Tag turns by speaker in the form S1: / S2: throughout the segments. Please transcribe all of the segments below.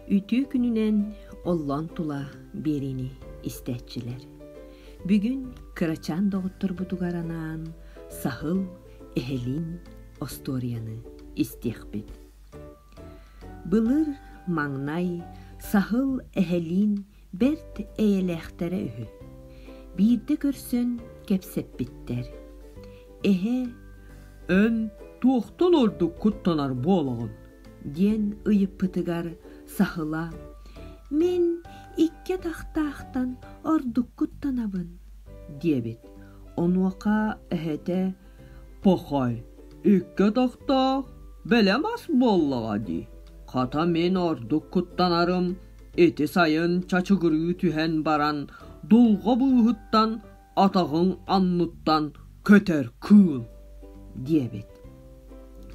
S1: Үтүө күнүнэн оллоон тула биэриини истээччилэр. Бүгүн кырачаан доҕотторбутугар анаан саһыл эһэлиин остуоруйаны истиэхпит. Былыр маҥнай саһыл эһэлиин бэрт эйэлээхтэрэ үһү. Биирдэ көрсөн кэпсэппиттэр. Эһэ эн туохтан ордук куттанар буолаҕын? диэн ыйыппытыгар саһыла «Мин икки атахтаахтан ордуккуттанабын» диэбит. Онуоха эһэтэ «Похой, икки атахтаах бэлэм ас буоллаҕа дии. Хата мин ордук куттанарым ити сайын чачыгырыы түһэн баран дулҕа быыһыттан отоҕуҥ оннуттан көтөр куул диэбит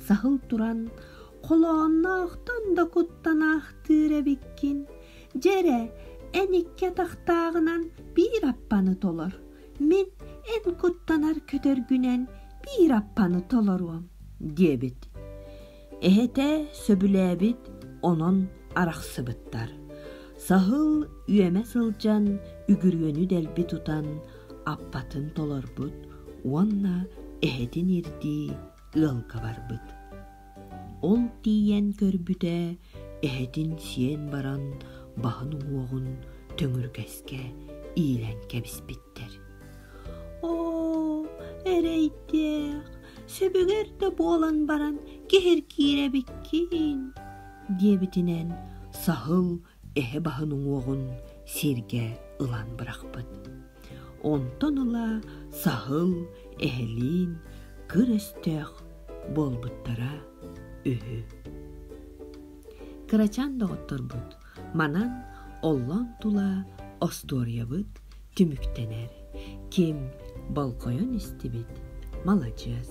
S1: саһыл туран холоонноохтон да куттан аахтыыр эбиккин дьэрэ эн икки атахтааҕынан биир аппаны толор мин эн куттанар көтөргүнэн биир аппаны толоруом диэбит Эһэтэ сөбүлээбит онон арахсыбыттар. Саһыл үөмэ сылдьан үгүрүөнү дэлби тутан аппатын толорбут уонна эһэтин ирдии ыалга барбыт. Ол тиийэн көрбүтэ эһэтин сиэн баран баһын уҥуоҕун төҥүргэскэ иилэн кэбиспиттэр. Оо, эрэйдээх, сөбүгэр да буолан баран киһир киирэбиккин диэбитинэн саһыл эһэ баһын уҥуоҕун сииргэ ылан бырахпыт онтон ыла саһыл эһэлиин кыр өстөөх буолбуттара үһү кырачаан доҕотторбут Манан оллон тула остуоруйабыт түмүктэнэр. Ким болҕойон истибит, маладьыас.